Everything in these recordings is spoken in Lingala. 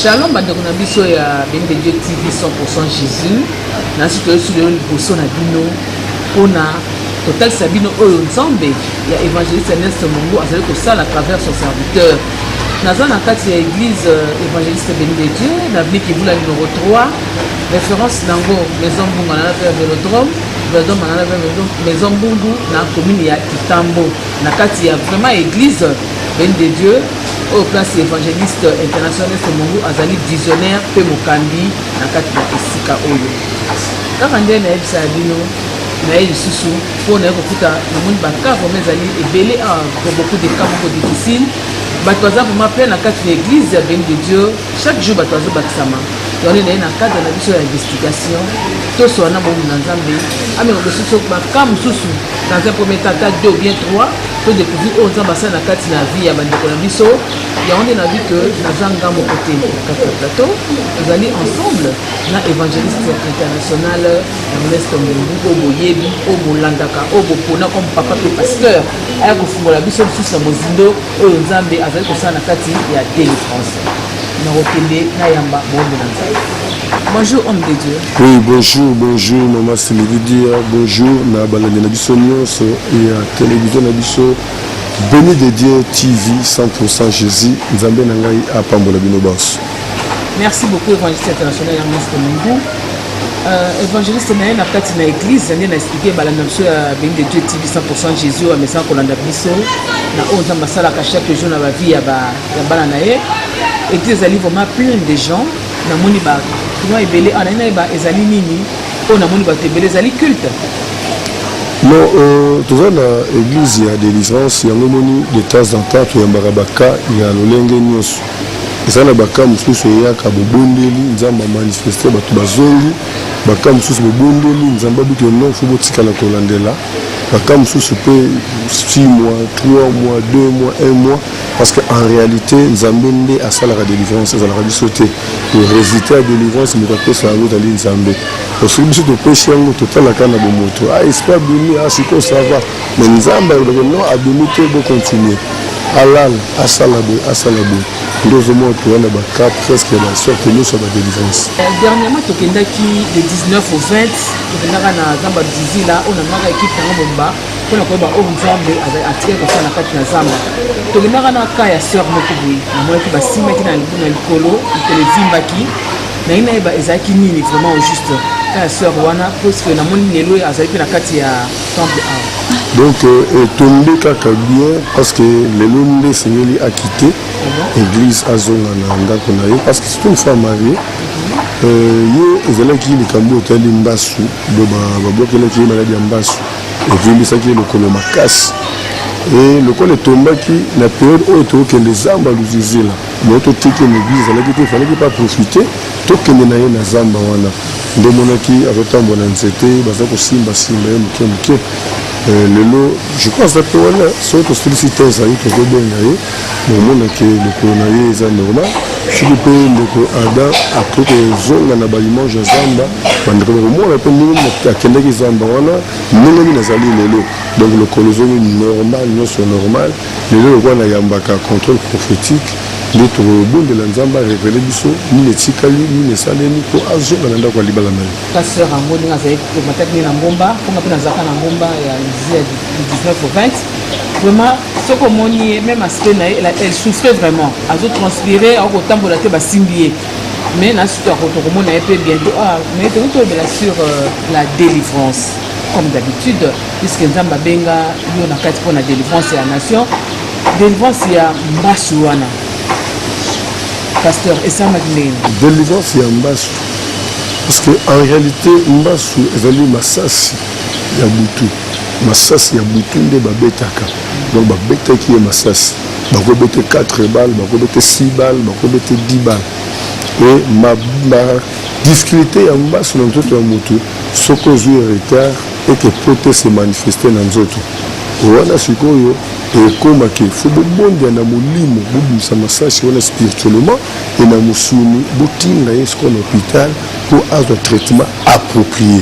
shalom bandeko na biso ya bende dieu tv 100 jésus nasi toyesi lelo liboso na bino mpona totalisa bino oyo nzambe ya évangéliste ernest mongo azali kosala travers son serviteur naza na kati ya église euh, évangéliste bende dieu na avenue kivula numero 3 Reference nango Maison Mbunga na pe Velodrome, Velodrome na pe Maison Mbungu na commune ya Kitambo na kati ya vraiment église Belle de Dieu au place évangéliste international Somongo azali visionnaire pe mokambi na kati ya esika oyo. Kaka nde na yebisa bino na ye lisusu mpo na ye kokuta namoni bakaa vraimen ezali ebele a beaucoup de cas moko difficile bato baza vraimen plein na kati na église ya beni de dieu chaque jour bato bazobakisama Tozali na ye na cadre na biso ya investigation, tous wana bomu na Nzambe ameka kosusu ba cas mosusu dans un premier cas cas deux ou bien trois to découvrir oyo Nzambe asali na kati na vie ya bandeko na biso yango nde na vie que naza nga moko te na kati ya plateau tozali ensemble na évangéliste international Ernest Mbembu oyo boyebi oyo bolandaka oyo bopona comme papa mpe pasteur aya kofungola biso lisusu na mozindo oyo Nzambe azali kosala na kati ya délivrance nakokende nayamba moombo na nzambe bonjour homme de dieu oui bonjour bonjour mama silividia bonjour na balandi na biso nyonso ya televizio na biso beni de dieu tv 100 jésus nzambe na ngai apambola bino banso merci beaucoup évangéliste international ernest mungu euh, évangéliste na ye na kati na église nde na explike balanda biso ya beni de dieu tv 100 jésus oyo amesana kolanda biso na oyo nzambe asalaka chaque jour na bavie ya ba ya bana na ye eglise ezali vraiment pleine de gens namoni ba kinois ebele awa naye nayeba ezali nini oyo namoni bato ebele ezali culte non euh, toza na église ya délivrance yango moni de temps en temps toyambaka baka ya lolenge nyonso eza na baka mosusu eyaka bobondeli nzambe amanifeste bato bazongi baka mosusu bobondeli nzambe abiki non fo botikala kolandela baka mosusu mpe 6 mois 3 mois 2 mois 1 mois Parce que en réalité Nzambe nde asalaka délivrance ezalaka biso te résultat ya délivrance moto apesa yango ezali Nzambe soki biso topesi yango totalaka na bomoto ah esprit abimi ah sikoyo ça va mais Nzambe alobaka non abimi te bocontinue alala asala boye asala boye nde ozomona toya na baka presque na sorte nyonso ya badelivrance euh, dernièrement tokendaki le 19 au 20 tokendaka na zamba dizila oyo namaka ekipe yango bomba mpo na koyeba oyo nzambe atikaki kosala na kati na zamba tolingaka na ka ya sœur moko boye namonaki basimbaki na libu na likolo likolo evimbaki naye nayeba ezalaki nini vraiment au juste ka ya sœur wana puisque namoni lelo azali mpe na kati ya temple awa donc euh, etombe kaka bien parce que lelo nde esengeli akite ah église azonga na ndako na ye parce que c'est une femme mariée euh, ye ezalaki likambo etali mbasu bo babokelaki ye maladi ya mbasu evimbisaki ye lokolo makasi e lokola etombaki na periode oyo tokokende zamba luzizila mo totiki mobizi ezalaki te efalaki mpe aprofite tokende na ye na zamba wana nde monaki azotambola nzete baza kosimbasimba ye moke moke eh, lelo je crois aza mpe wana soki tosilisi te ezali tokobenga ye Bomona ke lokolo na ye eza normal soki mpe ndeko Adam akoki kozonga na baimage ya zamba bandeko bakomona mpe ndenge akendaki zamba wana ndenge nini azali lelo donc lokolo ezongi normal nyonso normal lelo lokola nayambaka contrôle prophétique nde tokobondela nzambe arevele biso nini etikali nini esalemi mpo azonga na ndako ya libala na ye pasteur yango ndenge azali komataki nde na ngomba mponga mpe nazalaka na ngomba ya lizia du 19 au 20 vraiment soki omoni ye meme aspect na ye elle souffrait vraiment azo transpire akotambola te basimbi ye mais na sutu akotokomona ye mpe bientôt ah, mais toki tolobela sur euh, la délivrance comme d'habitude puisque nzambe abenga yo na kati mpo na délivrance ya nation délivrance ya mbasi wana pasteur esamaki ndenge délivrance ya mbasi parce que en réalité mbasu ezali masasi ya butu masasi ya butu nde babetaka donc babetaki ye masasi bakobete 4 balle bakobete 6 balle bakobete 10 balle e badifficulté ya mbaso na nzoto ya motu soki ozwi retard eke pote se manifeste na nzoto wana sikoyo ekomaki fo bobondia na molimo bobimisa masasi wana spirituellement e na mosuni botinda ye sikoyo na hôpital mpo azwa traitement approprié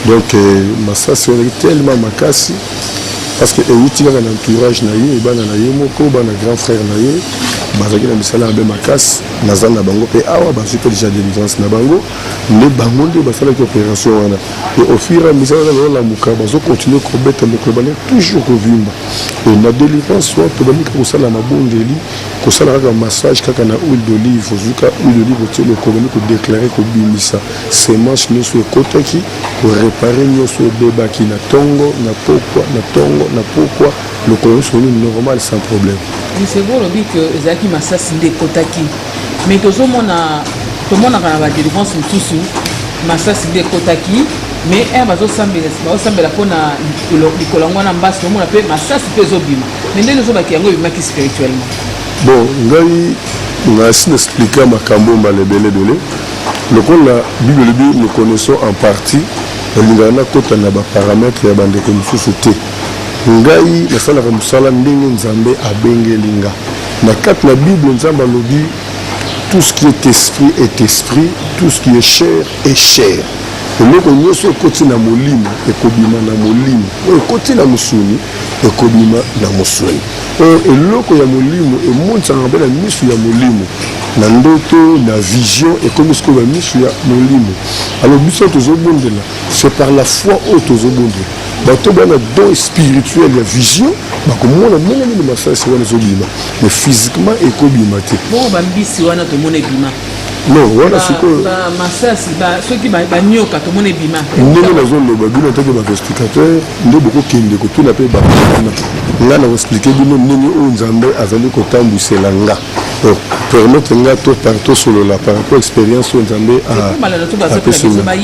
donc euh, masasi wana ezalaki tellement makasi parce que euti kaka na entourage na ye bana na ye moko bana grand frère na ye bazalaki na misala mabe makasi naza na bango mpe awa bazwi mpe déjà délivrance na bango nde bango nde basalaki opération wana e au fur et à mesure wana bazolamuka bazokontinue kobeta mokolo bale toujours kovimba e na délivrance wana tobandi kaka kosala mabondeli kosala kaka massage kaka na huile d'olive ozuka huile d'olive otie lokolo bandi kodeklare kobimisa Semence nioso ekotaki ko reparer nioso ebebaki na tongo na pokwa na tongo na pokwa lokolo nioso nini normal sans problème. Lisego olobi que ezalaki masasi nde ekotaki mais tozomona tomonaka na ba delivrance mosusu masasi nde ekotaki mais un bazosambela bazosambela mpo na likolo yango wana mbasi tomona mpe masasi mpe ezobima mais ndenge ezobaki yango ebimaki spirituellement bon ngai nasi na explika makambo mbala ebele ebele Lokola Bible elobi nous connaissons en partie, nalingaka nakota na ba parametres ya bandeko mosusu te. Ngai nasalaka mosala ndenge Nzambe abengeli nga. Na kati na Bible Nzambe alobi tout ce qui est esprit est esprit, tout ce qui est chair est chair. Eloko nyoso ekoti na molimo ekobima na molimo, oyo ekoti na mosuni ekobima na mosuni. Mpo eloko ya molimo emonisanaka mpe na miso ya molimo, na ndoto, na vision, ekomi sikoyo na miso ya molimo. Alors biso oyo tozobondela, c'est par la foi oyo tozobondela. Bato oyo baza na don spirituel ya vision, bakomona ndenge nini masasi wana ezobima, mais physiquement ekobima te. Bongo ba mbisi wana tomona ebima? Non, wana sikoyo. Ba masasi, ba soki ba nyoka tomona ebima? Ndenge nazoloba bino en tant que ba investigateur, nde bokokende kotuna mpe bato wana nga na koexplike bino ndenge oyo nzambe azali kotambwisela nga donc permettre nga to par tosolola par rapport expérience oyo nzambe apesi nga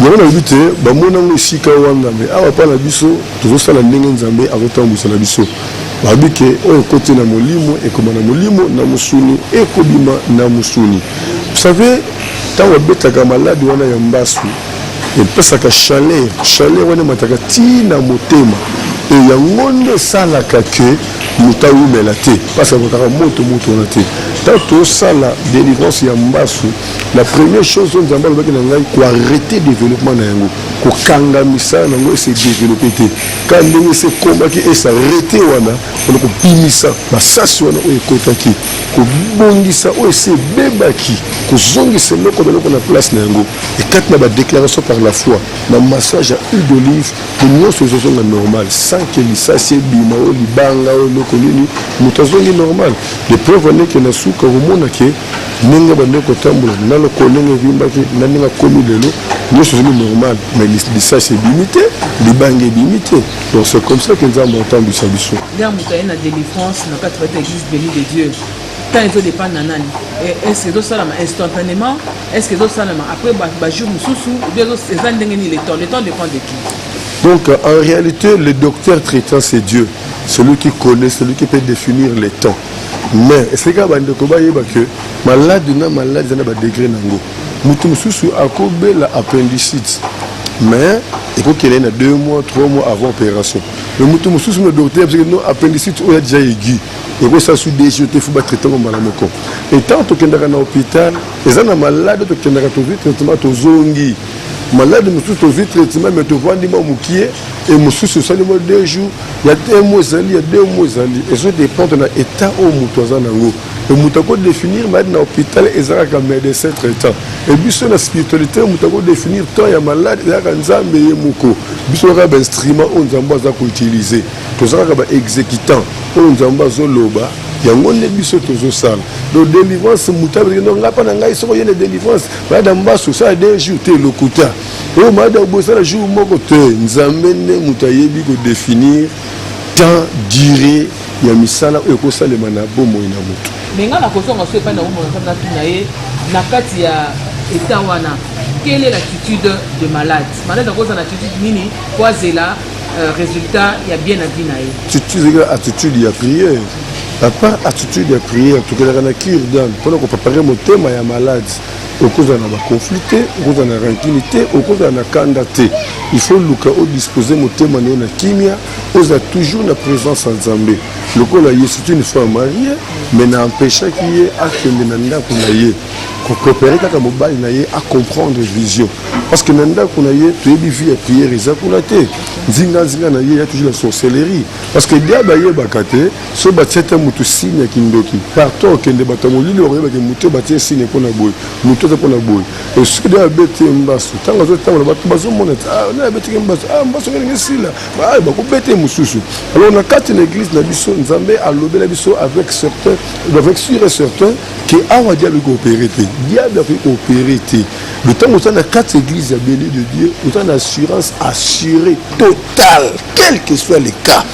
yango nalobi te bamona yango esika wana me awa mpa na biso tozosala ndenge nzambe azotambwisa na biso babi ke oyo ekoti na molimo ekoma na molimo na mosuni ekobima na mosuni vous savez ntango abetaka maladi wana ya mbasu Epesaka chaleur, chaleur wana emataka ti na motema e yango nde esalaka ke moto awumela te mpasi akotaka moto moto wana te ntango tosala délivrance ya mbasu la première chose oyo nzambe alobaki na ngai koarrete développement na yango kokanga misala na yango ese développe te ka ndenge ese ekomaki ese arrete wana wana kobimisa basasi wana oyo ekotaki kobongisa oyo esi ebebaki, kozongisa eloko na eloko na place na yango, et kati na ba declarations par la foi, na massage ya huile d'olive, po nionso ezozonga normal sans que lisasi ebima oyo libanga oyo eloko nini, moto azongi normal. Les preuves en est que na suka okomona que ndenge abandaki kotambola, na lokolo ndenge evimbaki, na ndenge akomi lelo, nionso ezongi normal, mais lisasi ebimi te, libanga ebimi te. Donc c'est comme ça que Nzambe atambwisa biso. Ndia moto aye na délivrance na kati bata église béni de Dieu. Tant ezo dépendre na nani. Est-ce que ezo salama instantanément? Est-ce que ezo salama après ba, ba jour mosusu? Ou bien eza ndenge nini le temps? Le temps dépend de qui? Donc en réalité, le docteur traitant c'est Dieu, celui qui connaît, celui qui peut définir le temps. Mais c'est quand bande ko ba yeba que malade na malade na ba degré nango. Mutu mususu akobela appendicite. mais ekoki elai na deux mois trois mois avant opération mais moto mosusu na docteur abisaki no appendicite oyo adeja egui ekosala su deux jours te fo batraite yango mbala moko etant tokendaka na hôpital eza na malade tokendaka tozwi traitement tozongi malade mosusu tozwi traitement mais tovandi mwa mokie e mosusu esali mwa deux jours ya un mois ezali ya deux mois ezali ezo dépendre na état oyo moto aza na yango Mais mutu ako definir malade na hôpital eza kaka médecin traitant. Et biso na spiritualité mutu ako definir temps ya malade eza kaka Nzambe ye moko. Biso kaka ba instrument oyo Nzambe aza ko utiliser. Toza kaka ba executant oyo Nzambe azo loba yango nde biso tozo sala. Donc délivrance mutu abeli non nga pa na ngai soko ye na délivrance malade ya mbasu sala deux jours te lokuta. Oyo malade ya bosala jour moko te Nzambe nde mutu ayebi ko definir temps durée ya misala oyo ekosalema na bomoi na moto. Me nga nakozonga so epai na bomoi na Nzambe, natuna ye na kati ya eta wana quelle est l'attitude de malade malade akoza na attitude nini po azela euh, résultat ya bien na vie na ye ezalaka attitude ya prière apart attitude ya prière tokelaka na cure dame mpona kopapare motema ya malade okozala na baconflit te okozala na rancune te okozala na kanda te il faut luka odispose motema na yo na kimia ozala toujours na présence ya nzambe lokola ye c'est une fois marie mais na empêchaki ye akende na ndako na ye koprepare kaka mobali na ye acomprendre vision parce que na ndako na ye toyebi vie ya prière eza kuna te nzinganzinga na ye ya toujours la sorcellerie parce que diable ayebaka te so batia te motu signe ya kindoki partout okende bato ya molili bakoyebake moto batie signe mpo na boye moto aza mpo na boye esude abeti ye mbasu ntango azotambola bato bazomona ete ah, naye abetiki ye mbasu ah, mbasu ngelingi esila ah, bakobeta ye mosusu alors na kati na église na biso nzambe alobela biso avec certain avec sur et certain ke awa diable ekoopere te diable akoki koopere te le ntango oza na kati église ya bele de dieu oza na assurance assurée totale quel que soit le cas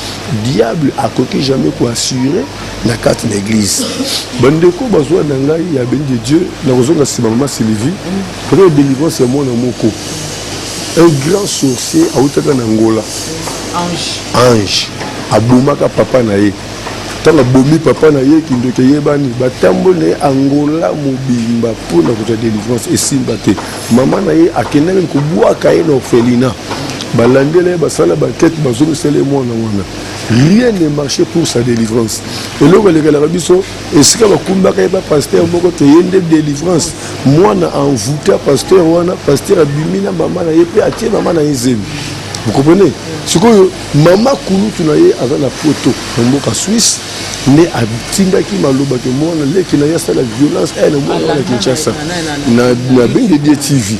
diable akoki jamais koassure na kati na eglise bandeko bazwa na ngai ya beni de dieu nakozonga nsima mama sylvie mpona ya délivrance ya mwana moko un grand sorcier awutaka na ngola ange abomaka papa na ye ntango abomi papa na ye kindoki eyebani batamboli na ye angola mobimba mpo na kozwa délivrance esimba te mama na ye akendaki kobwaka ye na orphelina balandela ye basala bankete bazongisela ye mwana wana rien ne marche pour sa délivrance eloko elekelaka biso esika bakumbaka ye bapasteur moko te ye nde délivrance mwana envouta pasteur wana pasteur abimi na mama na ye mpe atie mama na ye zemi vous comprenez sikoyo mama kulutu na ye aza na poto na mboka swisse nde atindaki maloba ke mwana leki na ye asala violence eh, na mwana wana kinshasa na bende die tv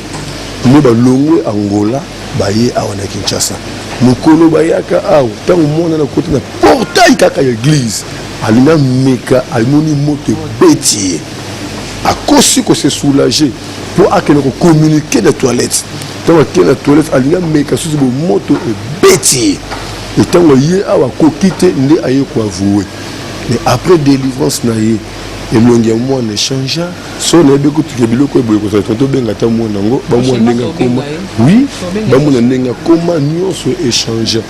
nde balongwe angola baye awa na kinshasa mokolo bayaka awa ntango mwana nakoti na portail kaka ya eglize alingi ameka amoni moto ebeti ye akosi kose soulage mpo akende kokommunike na toilette ntango ake na toilette alingi ameka susu bomoto ebeti ye etango ye awa akoki te nde aye koavoue mais après délivrance na ye elongi ya mwana echangea so nayebi kutu ke biloko eboye kozala tonto obenga ata mwana yango bamona ndenge akoma oui bamona ndenge akoma nyonso echangea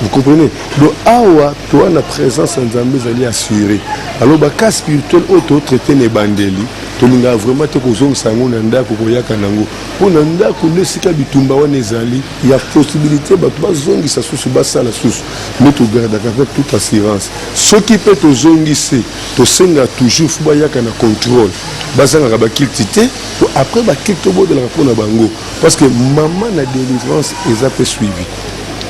vous comprenez donc awa toa na présence ya nzambe ezali assuré alors bacas spirituel oyo totraite na ebandeli tolingaka vraiment te kozongisa yango na ndako koyaka na yango mpo na ndako nde esika bitumba wana ezali ya possibilité bato bazongisa susu basala susu nde togardaka mpe toute assurance soki mpe tozongisi Tosenga toujours faut bayaka na contrôle bazangaka bakilti te po après bakilti tobondelaka mpo na bango parce que mama na délivrance eza mpe suivi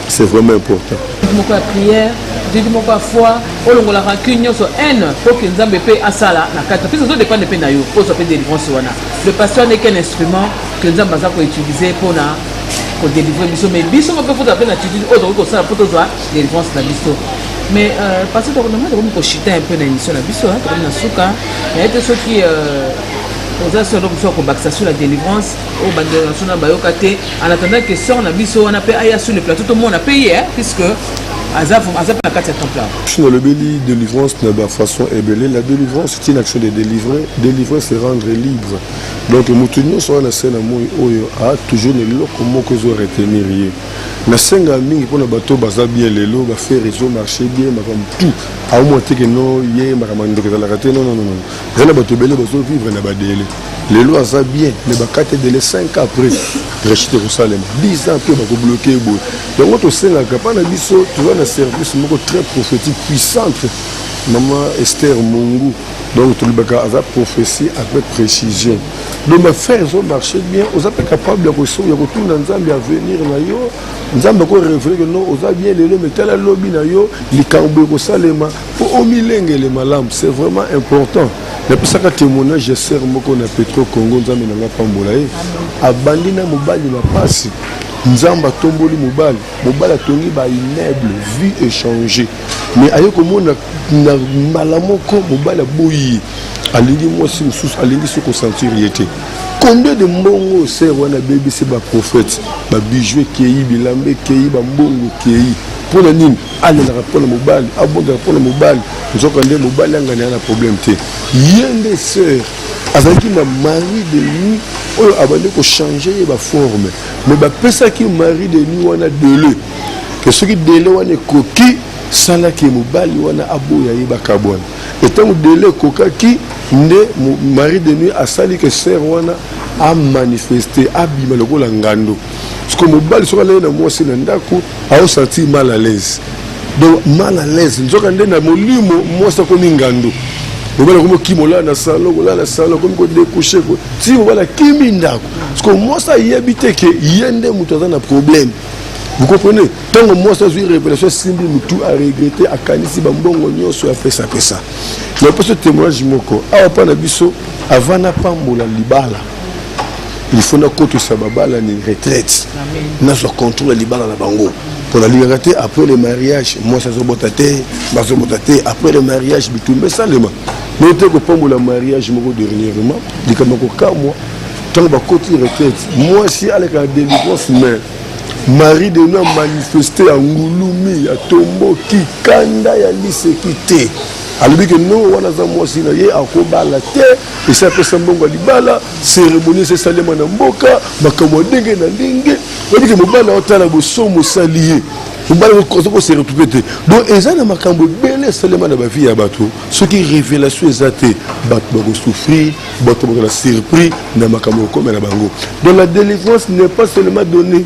c'est vraiment important moko ya prière jeudi moko ya foi olongola rancune nyonso haine mpo ke nzambe mpe asala na kati mpesa ozo dépendre mpe na yo ozwa mpe délivrance wana le pasteur n'est qu'un instrument que nzambe aza koutiliser mpo na kodelivre biso mais biso moko mpe fozala mpe na attitude oyo tokoki kosala mpo tozwa délivrance na biso mais euh, parce que tokomi tokomi koshita un peu na émission na biso tokomi na suka naye te soki euh, oza so eloko mosusu ya kobakisa sur la délivrance oyo bandeko na biso na bayoka te en attendant que sort na biso wana mpe aya sur le plateau tomona mpe ye puisque aza aza mpe na kati ya temple soki nalobeli délivrance na bafaçon ebele la délivrance c'est une action de délivrer délivrer se rendre libre donc moto nyonso wana na se na moi oyo a toujours na eloko moko ezo retenir ye Nasenga mingi mpo na bato baza bien lelo ba faire réseau marché bien makambo tout aomona te ke no ye makambo ya ndoki ezalaka te nononono eza na bato ebele bazo vivre na badele lelo aza bien me bakate dele 5 ans après rechite ekosalema 10 ans mpe bakobloke ye boye yango tosengaka mpa na biso toza na service moko très prophétique puissante mama ester mongu donc tolobaka aza prophétie avec précision donc bafrère ezo marché bien oza mpe capable ya kotuna nzambe avenir na yo nzambe akorevele ke non oza bien lelo metala lobi na yo likambo ekosalema mpo omilengele malamu c'est vraiment important napesaka témoignage ya sere moko na petro congo nzambe na ngai apambola ye abandi na mobali na mpasi nzambe atomboli mobali Mobali atongi ba immeuble vie echange mais aye komona na mbala moko mobali aboyi ye alingi mwasi mosusu alingi so kosentir ye te combien de mbongo ser wana abebisi baprophète babiju ekei bilamba ekei bambongo ekei mpo na nini alelaka mpo na mobali abondaka mpo na mobali nzoka nde mobali anganela na problème te ye nde ser azalaki na mari de nuit oyo abandi kochange ye baforme mais bapesaki marie de nuit wana dele ke soki dele wana ekoki salaki ye mobali wana aboya ye bakabwana etango dele ekokaki nde marie de nuit asali ke ser wana amanifeste abima lokola ngando siko mobali soki alei na mwasi na ndako Ao sentir mal à l'aise. Donc mal à l'aise. Nzoka nde na molimo mwasi akomi ngandu. Mobala komi okima olala na salon, olala na salon, komi ko découcher ko. Si mobala kimi ndako. Parce que mwasi ayebi te que ye nde moto aza na problème. Vous comprenez Tant que moi, ça, j'ai révélation, Simbi Moutou a regretté, a canissé, Bambongo, Nyoso, a fait ça, fait ça. Mais pour ce témoignage, Moko, a pas na biso, avant n'a pas moula libala. il faut nakotisa babalani retraite nazwa contrôle ya libala na bango mpo nalingaka te après le mariage mwasi azobota te bazobota te après le mariage bitumba esalema noyo te kopambola mariage moko dernièrement likambo kokamwa ntango bakoti retraite mwasi aleka na délivrance mais marie de nous amanifeste ya ngulumi ya tomboki kanda ya liseki te alobi ke no wana aza mwasi na ye akobala te esi apesa mbongo ya libala seremoni esi esalema na mboka makambo ya ndenge na ndenge oyebike mobali aotala bosomo osali ye mobali oza kose retrouve te donc eza na makambo ebele esalema na bavie ya bato soki révélation eza te bato bakosouffrir bato bakozala surpris na makambo ekokomela bango donc la délivrance n'est pas seulement donnée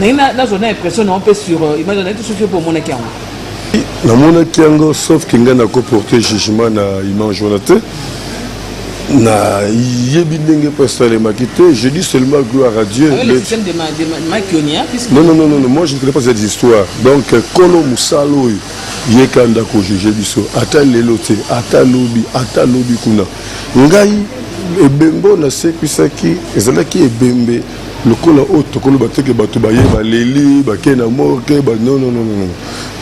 naye nazwa na impression nao mpe sur euh, image nayebi soki mpe omonaki yango namonaki yango sauf ke ngai nakoporte jugement na image wana te nayebi ndenge mpo esalemaki te je dis seulement gloire à dieu ah non, non, non, non, moi je ne connais pas cette histoire donc kolo mosala oyo ye kanda kojuge biso ata lelo te ata lobi ata lobi kuna ngai ebembe oyo nasekwisaki ezalaki ebembe lokola oyo tokoloba te ke bato baye baleli bakei na morke ba non non non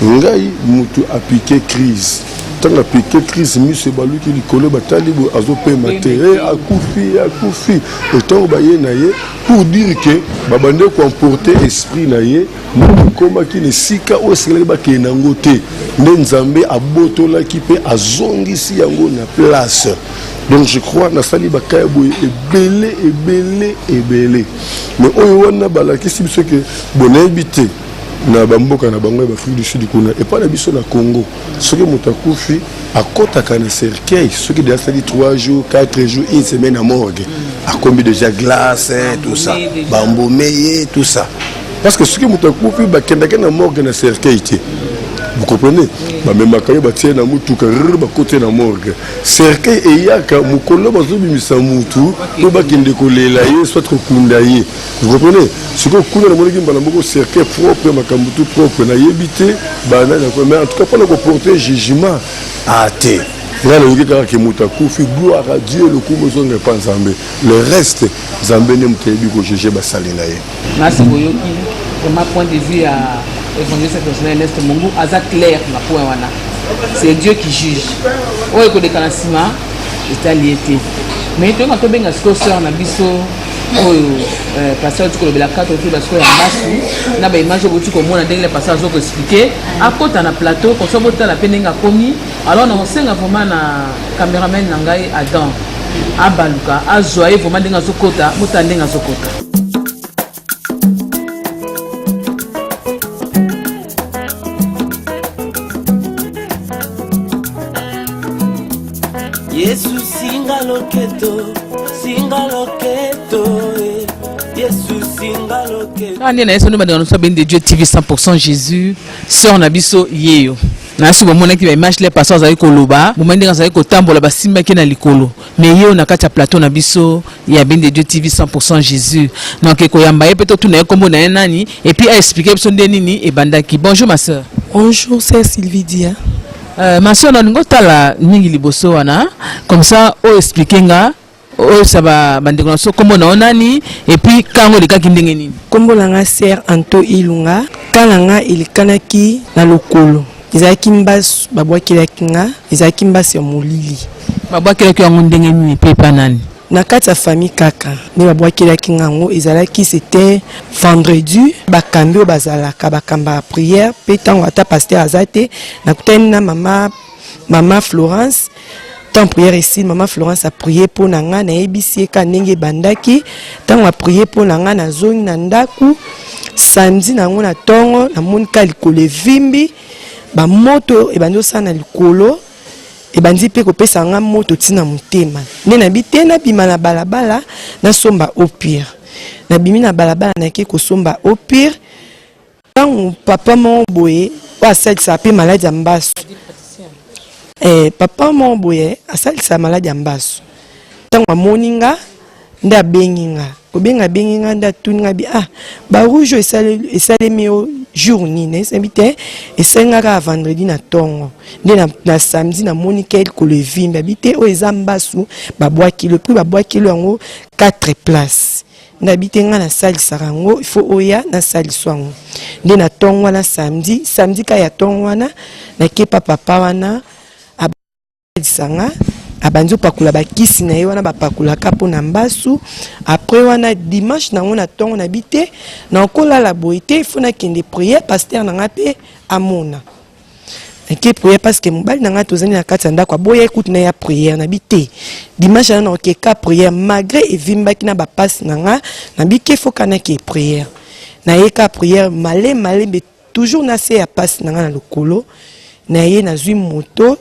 non ngai motu apike crise ntango apike crise miso ebaluki likolo batali boye azopema te e akufi akufi ntango baye na ye pour dire ke babandi koemporte esprit na ye moto ekomaki na esika oyo esengelaki bakei na yango te nde nzambe abotolaki mpe azongisi yango na place donc je crois nasali baka ya boye ebele ebele ebele mais oyo wana balakisi biso ke bonayebi te na bamboka na bango ya baafrike du sud kuna epai na biso na congo soki moto akufi akɔtaka na cercueil soki deja asali 3 jours 4 jours une semaine ya morgue akombi déjà glace tout ça bambome ye tout ça parce que soki moto akufi bakendaki na morgue na cercueil te vous comprenez bamemaka ye batie na motuka bakoti na morgue cercueil eyaka mokolo bazobimisa mutu po bakende kolela ye soit kokunda ye vous comprenez sikoyo kuna namonaki mbala moko cercueil propre makambo tout propre nayebi te banani ako mais en tout cas mpona koporte jugement ate ngai nayoki kaka ke moto akufi gloire à dieu lokumu ezonga epa nzambe le reste Nzambe nde moto ayebi ko juger basali na ye. Nasi boyoki vraiment point de vue ya évangéliste international Ernest Mungu aza clair na point wana. C'est Dieu qui juge. Oyo ekoleka na nsima etali ye te. Mais toyeba tobenga sikoyo sœur na biso oyo euh, pasteur oti kolobela kati otoyeba sikoyo ya mbasu na baimage oboti komona ndenge le pasteur azo koexplike akota na plateau konso botala mpe ndenge akomi alors na kosenga vraiment na Cameraman na ngai Adam abaluka azwa ye vraiment ndenge azokota motala ndenge azokota yesu singa loketo singa loketo eh. yesu singa loketo kaka nde na yesu nde bandeko na biso abende dieu tv 100 jésus sœur na biso yeyo na suka omonaki ba image le pasteur azali koloba moma ndenge azali kotambola basimbaki na likolo mais ye oyo na kati ya plateau na biso ya bende dieu tv 100 jésus donc ekoyamba ye mpe totuna ye nkombo na ye nani epuis aexplike biso nde nini ebandaki bonjour ma sœur bonjour sœur sylvie dia euh, ma sœur nalingi otala mingi liboso wana comme ça oexplike nga oyebisa bandeko na biso nkombo na yo nani epuis kango elekaki ndenge nini nkombo na nga ser anto ilunga ka na nga elekanaki na lokolo ezalaki mbasi babwakelaki nga ezalaki mbasi ya molili babwakelaki yango ndenge nini mpe epa nani na kati ya famille kaka nde babwakelaki nga yango ezalaki c'était vendredi bakambi oyo bazalaka bakambaka prière mpe ntango ata paster aza te nakutani na mama mama florence temps prière esili mama florence aprie mpo na ngai nayebisi ye ka ndenge ebandaki ntango aprie mpo na ngai nazongi na ndako samedi na yango na ntongo namoni ka likolo evimbi bamoto ebandi osala na likolo ebandi mpe kopesa ngai moto ntina motema nde nayebi te nabima na balabala nasomba opire nabimi na balabala nayaki kosomba opire ntango papa moko boye oyo asalisaka mpe maladi ya mbasu eh, papa moko boye asalisaka maladi ya mbasu ntango amoni nga nde abengi nga kobenga abengi nga nde atuni nga bi ah barouge oyo esalemi yo jour nini nayesabi te esali nga kaka vendredi na ntongo nde na, na samedi namoni kelkolo evimbi abi te oyo eza mbasu babwakilo epui babwakilo yango 4 place nayebi te ngai nasalisaka yango ifo oya nasaliso yango nde na ntongo wana samedi samedi ka ya ntongo wana nakepa papa wana abalisa nga abandi opakola bakisi na ye wana bapakolaka mpo na mbasu après wana dimanche nango na ntongo na bi te nakolala boye te ifo nakende priere paster na ngai mpe amona nake priere parce que mobali na ngai tozali na kati ya ndako aboya ekuti na ya priere na bi te dimanche ana naoke ka priere malgré evimbaki na bapasi na ngai na bikefokanaki priere naye ka priere male malembe toujours na se ya pasi na ngai na lokolo na ye nazwi moto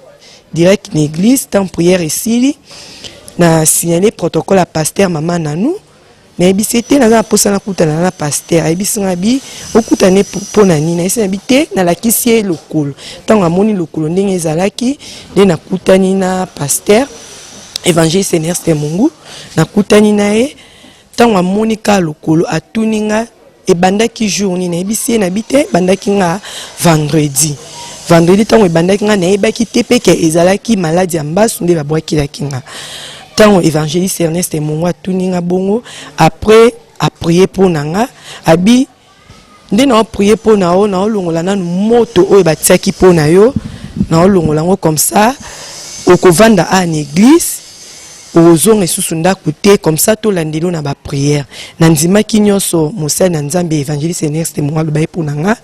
direct na église ntango priere esili na signale protocole ya pasteur mama nanou nayebisi ye te naza na mposa nakutana na paster ayebisi ngai bi okutana mpo na nini nayebisi na bi te nalakisi ye lokolo ntango amoni lokolo ndenge ezalaki nde nakutani na paster évangéliste enerste mungu nakutani na ye ntango amoni kaka lokolo atuni ngai ebandaki jour nini nayebisi ye nayebi te ebandaki nga vendredi vendredi ntango ebandaki nga nayebaki te mpe ke ezalaki maladi ya mbasu nde babwakelaki nga ntango évangéliste ernest mongo atuni nga bongo après aprie mpo na nga abi nde naoprie mpo na yo naolongola nanu moto oyo batiaki mpo na yo naolongola yango comme ça okovanda a na église Ozonga esusu ndaku te comme ça to landelo na ba prière. Na ndimaki nionso mosali na Nzambe evangeliste Ernest Moa loba ye pona nga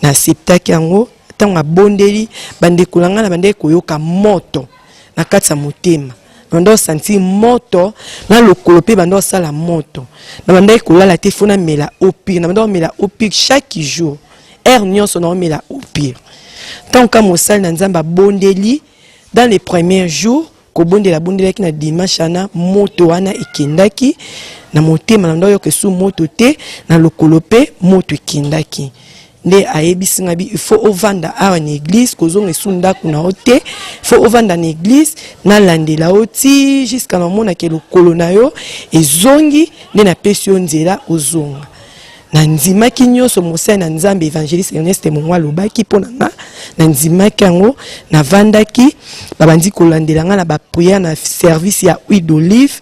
na acceptaki yango tango abondeli bandeko na nga na bandeki koyoka moto na kati ya motema banda osanti moto na lokolo mpe banda osala moto na bandaki kolala te fo namela opire na banda omela opire chaque jour heure nyonso na omela opire ntango ka mosali na nzambe abondeli dans les premiers jours kobondela bondelaki na dimanche wana moto wana ekendaki na motema na ndo ayoka esu moto te na lokolo mpe moto ekendaki nde ayebisi ngai il faut ovanda awa na église kozonga esu ndako na yo te faut ovanda na église nalandela yo ti jusqu'à namonake lokolo na yo ezongi nde napesi yo nzela ozonga nandimaki nyonso mosali na nzambe évangéliste erneste mongo alobaki mpo na nga nandimaki yango navandaki babandi kolandela nga na baprière na service ya huile d'olive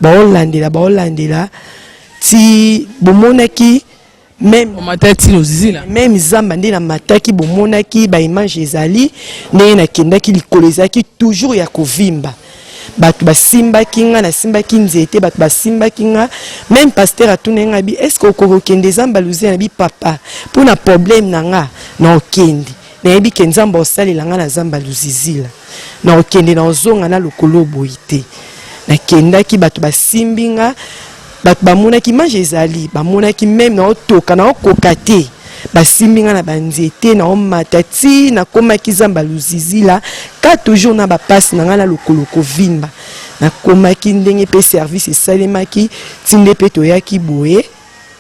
baolandela baolandela ti bomonaki meme zamba nde namataki bomonaki baimage ezali ndenge nakendaki likolo ezalaki toujours ya kovimba bato basimbaki nga nasimbaki nzete bato basimbaki nga meme pasteur atunaki nga bi est ce que okoki okende zamba luzia na bi papa mpo na problème na nga na okende nayebi ke nzambe osalela nga na zamba luzizila na okende na ozonga na lokolo boye te nakendaki bato basimbi nga bato bamonaki image ezali bamonaki meme naotoka naokoka te basimbi ngai na banzete naomata ti nakomaki zamba luzizila ka toujours na bapasi na ngai na lokolo kovimba nakomaki ndenge mpe service esalemaki ti nde mpe toyaki boye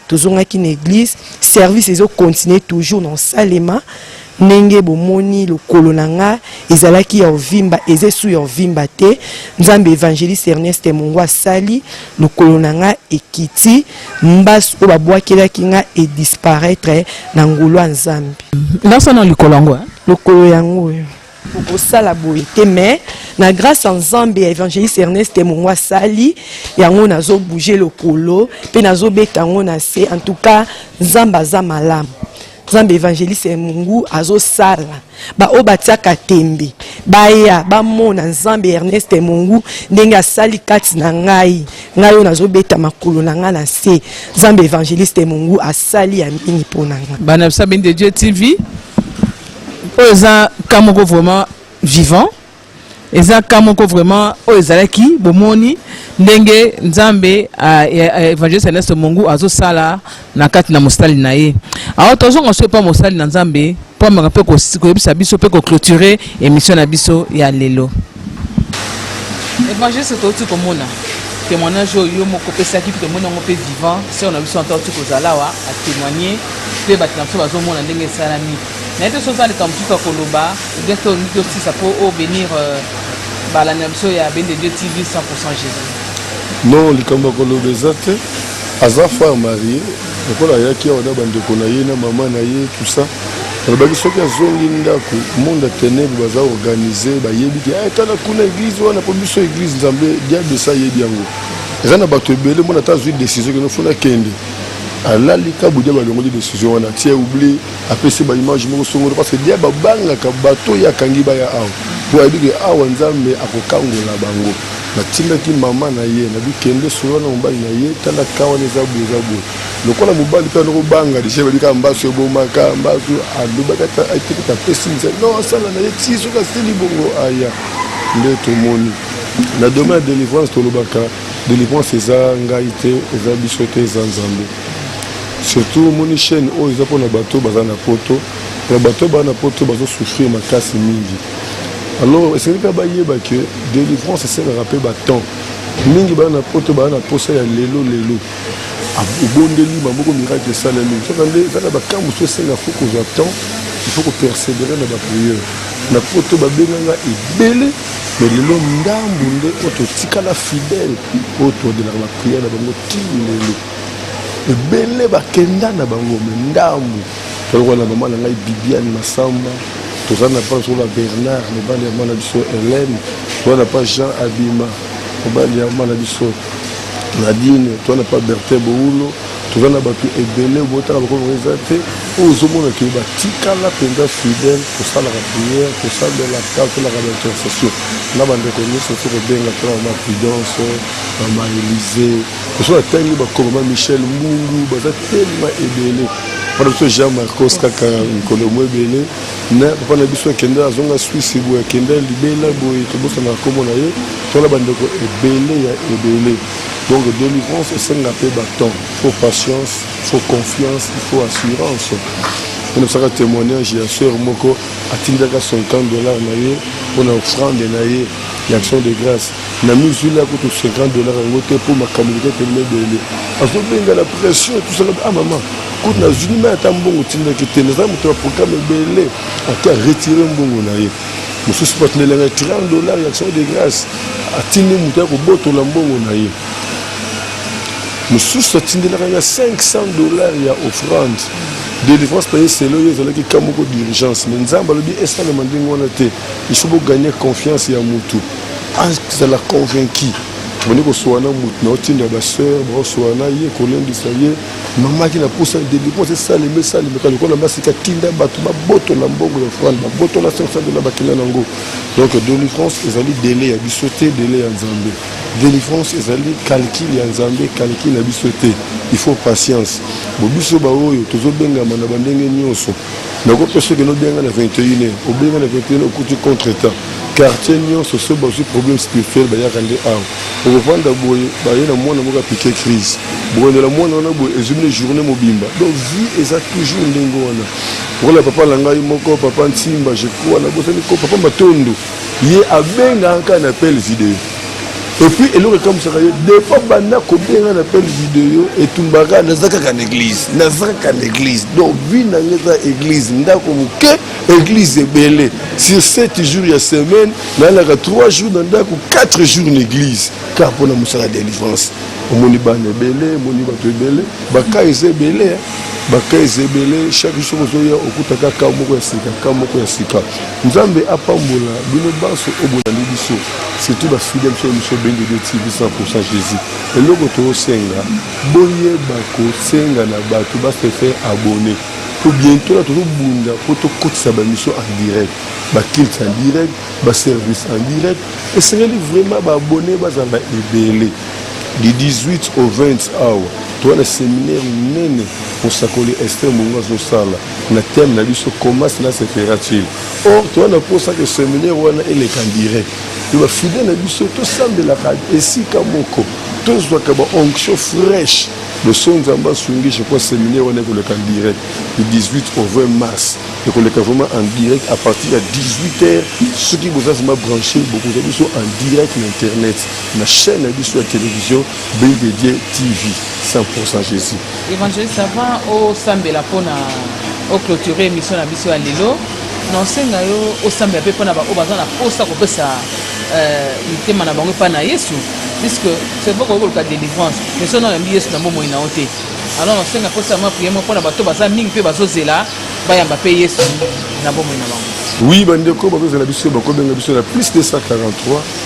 tozongaki na eglise service ezokontinue toujours na osalema Ndenge bomoni lokolo na nga ezalaki ya ovimba eza esu ya ovimba te nzambe evangeliste Ernest Mungu asali lokolo na nga ekiti mbasi oyo babwakelaki nga e disparaître na ngolu ya nzambe ndasa na likolo yango eh? lokolo yango oyo okosala boye te mais na grâce ya nzambe ya évangéliste ernest mongo asali yango nazobouge lokolo mpe nazobeta yango na se en tout cas nzambe aza malamu nzambe evangeliste mungu azosala baoyo batiaka tembe baya bamona nzambe ernest mungu ndenge asali kati na ngai ngai oyo nazobeta makolo na ngai na se nzambe evangeliste mungu asali ya mingi mpo na ngai bana bisabi nde dieu tv oyo eza ka moko vraiment vivant eza ka moko vraiment oyo ezalaki bomoni ndenge nzambe evangeliste ernest mongu azosala na kati na mosali na ye awa tozonga so epa mosali na nzambe mpo amaka mpe koyebisa biso mpe koclotire émission na biso ya lelo evangeliste touti komona témoignage oyo yo moko opesaki mpe tomoni yango mpe vivant sere na biso ata oti kozala awa atémoigne mpe bato na biso bazomona ndenge esalami nayebi te soki oza likambo mosusu ya koloba oubien soki olingi tosisa mpo o benir euh, balandi na biso ya bende dieu tv 100 jesus non likambo ya koloba eza te aza far marie lokola ayaki awa na bandeko na ye na mama na ye tusa alobaki soki azongi ndako monde ya tenebre baza organise bayebi te eh, tala kuna eglise wana mpo biso eglise nzambe diable esi ayebi yango eza na bato ebele mona ata azwi décision kino fona kende alali kabudia balongoli décision wana tie oublie apesi ba image moko songolo parce que dia babangaka bato oyo akangi baya awa mpo ayebi ke awa nzambe akokangola bango natindaki mama na ye nabi kende solo na mobali na ye tala ka wana eza boye eza boye lokola mobali mpe anokobanga deja bayebi kaka mbasu ebomaka mbasu alobaki ata ateketa apesi misa non asala na ye ti soki asili bongo aya nde tomoni na domaine ya délivrance tolobaka délivrance eza ngai te eza biso te eza nzambe surtout omoni chaîne oyo eza mpona bato oyo baza na poto alors bato oyo baza na poto bazo souffrir makasi mingi alors esengeli kaka bayeba ke délivrance esengaka mpe batemps mingi baza na poto baza na mposa ya lelo lelo obondeli maboko miracle esalemi kaka nde eza na bakamp mosusu esenga fo kozwa temps il faut kopersévere na bapriere na poto babenganga ebele me lelo ndambu nde oyo totikala fidèle oyo todelaka bapriere na bango ti lelo ebele bakenda na bango me ndambu toyoko na mama na ngai bibiane masamba toza na pa zola bernard mobali ya mwana biso helene toza na pa jean abima mobali ya mwana biso nadine toza na pa bertin boulo toza na bato ebele botala bakomi eza te oyo ozomona ke batikala mpenza fidèle kosalaka prière kosalelaka kolaka baintercession na bandeko nyonso soki obenga tolaka ma prudence mama elise biso natangi bakongoma michel mbungu baza telema ebele mpona biso jean marcos kaka mikolo mo ebele na papa na biso akenda azonga swisse boye akenda libela boye tobosana nkombo na ye tona bandeko ebele ya ebele donc délivrance esenga mpe batemp faut patience faut confiance il faut assurance onobisaka témoignage ya sœur moko atindaka 50 dollar na ye mpona offrande na ye ya action de grâce na mizwi la kutu 50 dollars yango te mpo makambo liketelema ebele azobenga na pression tosaka a ah, mama kutu na zuni mai ata mbongo tindaki te naza moto ya programme ebele ake aretire mbongo na ye mosusu batinela ngai 30 dollars ya action de grâce atindi moto ya kobotola mbongo na ye mosusu atindelaka ngai 500 dollars ya offrande délivrance na ye selo ye ezalaki ka moko d'urgence mais nzambe alobi esalema ndenge wana te Il faut bo gagner confiance ya mutu azala convaincu boni kosuana na mutu na otinda ba sœur baosuana ye kolendisa ye mama ki na posa délivrance esalema esalema kaka lokola basi katinda bato babotola mbongo ya frale babotola 500 dola bakenda na yango donc délivrance ezali dele ya biso te dele ya nzambe délivrance ezali calcule ya nzambe calcule ya biso te il faut patience bo biso baoyo tozobengama na bandenge nyonso nako pe soki nobenga na 21 obenga na 21 okuti contre temps quartier nyonso soki bazwi problème spirituel bayaka nde awa okofanda boye baye na mwana moko apike crise bokondela mwana wana boye ezwi bino journée mobimba donc vie eza toujours ndenge wana lokola papa na ngai moko papa nsimba je crois nabosani ko papa matondo ye abengaka kaka na appel video epuis eloko ekamwisaka yo depo banda kobenga na appel video etumbaka naza kaka na eglise naza kaka na eglise donc vi na nga eza eglise ndako moke eglise ebele sur 7 jours ya semaine nayalaka 3 jours na ndako 4 jours na eglise kaka mpo na mosala ya délivrance omoni bana ebele omoni bato ebele baka eza ebele baka eza ebele chaque jour soki ozoya okutaka ka moko ya sika ka moko ya sika Nzambe apambola bino banso oyo bolandi biso surtout ba fidèle sur émission Bende de TV 100% Jésus. Eloko tosenga boyeba kosenga na bato ba se faire abonner po bientôt na tozobunda po tokotisa bamission en direct bakilte en direct baservice en direct esengeli vraiment baabone bazala ebele du 18 au 20 awa towana seminaire monene mosakoli ester mongo azosala na thème na biso comment cela se fera-t-il or toza na mposa ke seminaire wana eleka direct to bafide na biso tosambelaka esika moko tozwaka baonction fraîche loso nzambe asungi je crois seminaire wana ekoleka direct du 18 au 20 mars ekoleka vraiment en direct à partir ya 18 heures soki boza vraimen branche bokozwa biso en direct na internet na chaîne na biso ya télévision Belle de Dieu TV 100% Jésus. Evangeliste avant osambela pona o clôturer émission na biso ya lelo na osenga yo osambela mpe mpo na baoyo baza na mposa kopesa euh, mitema na bango epai na yesu puisque c'est vrai koki koluka délivrance mais soki nayambi yesu na bomoi na yo te alors nasenga mposa mwa priere mpo na bato baza mingi mpe bazozela bayamba mpe yesu na bomoi na bango oui bandeko bazozela biso bakobenga biso na plus 243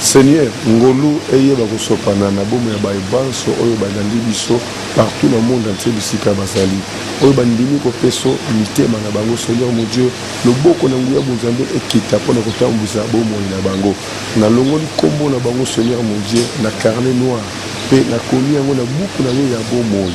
Seigneur, ngolu eyeba kosopana na bomoi ya baye banso oyo balandi biso partout na monde entier bisika bazali, oyo bandimi kopeso mitema na bango, Seigneur mon Dieu, loboko na nguya bonzambe ekita mpo na kotambwisa bomoi na bango. Nalongoli kombo na bango, Seigneur mon Dieu, na carnet noir mpe nakomi yango na buku na yo ya bomoi.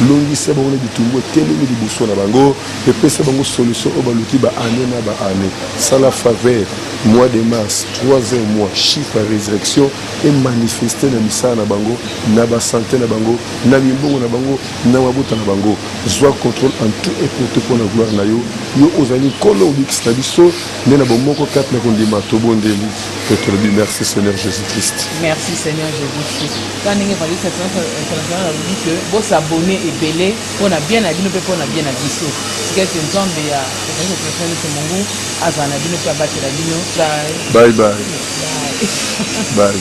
Longisa bango na bitumbu etelemi liboso na bango mpe pesa bango solution oyo baluki ba année na ba année. Sala faveur, mois de mars, troisième mois, chiffre ya resurrection emanifeste na misala na bango, na ba sante na bango, na mimbongo na bango, na mabota na bango. Zwa controle en tout et pour tout mpo na gloire na yo. Yo ozali Nkolo Mobikisi na biso nde na bomoko kati na kondima tobondeli mpe tolobi merci Seigneur Jesus-Christ. Merci Seigneur Jesus-Christ. Tala ndenge evangeliste international alobi ke bosabone ebele mpo na bien na bino mpe mpo na bien na biso sikete nzambe ya evangeliste international yose mongu azala na bino mpe abatela bino bye bye bye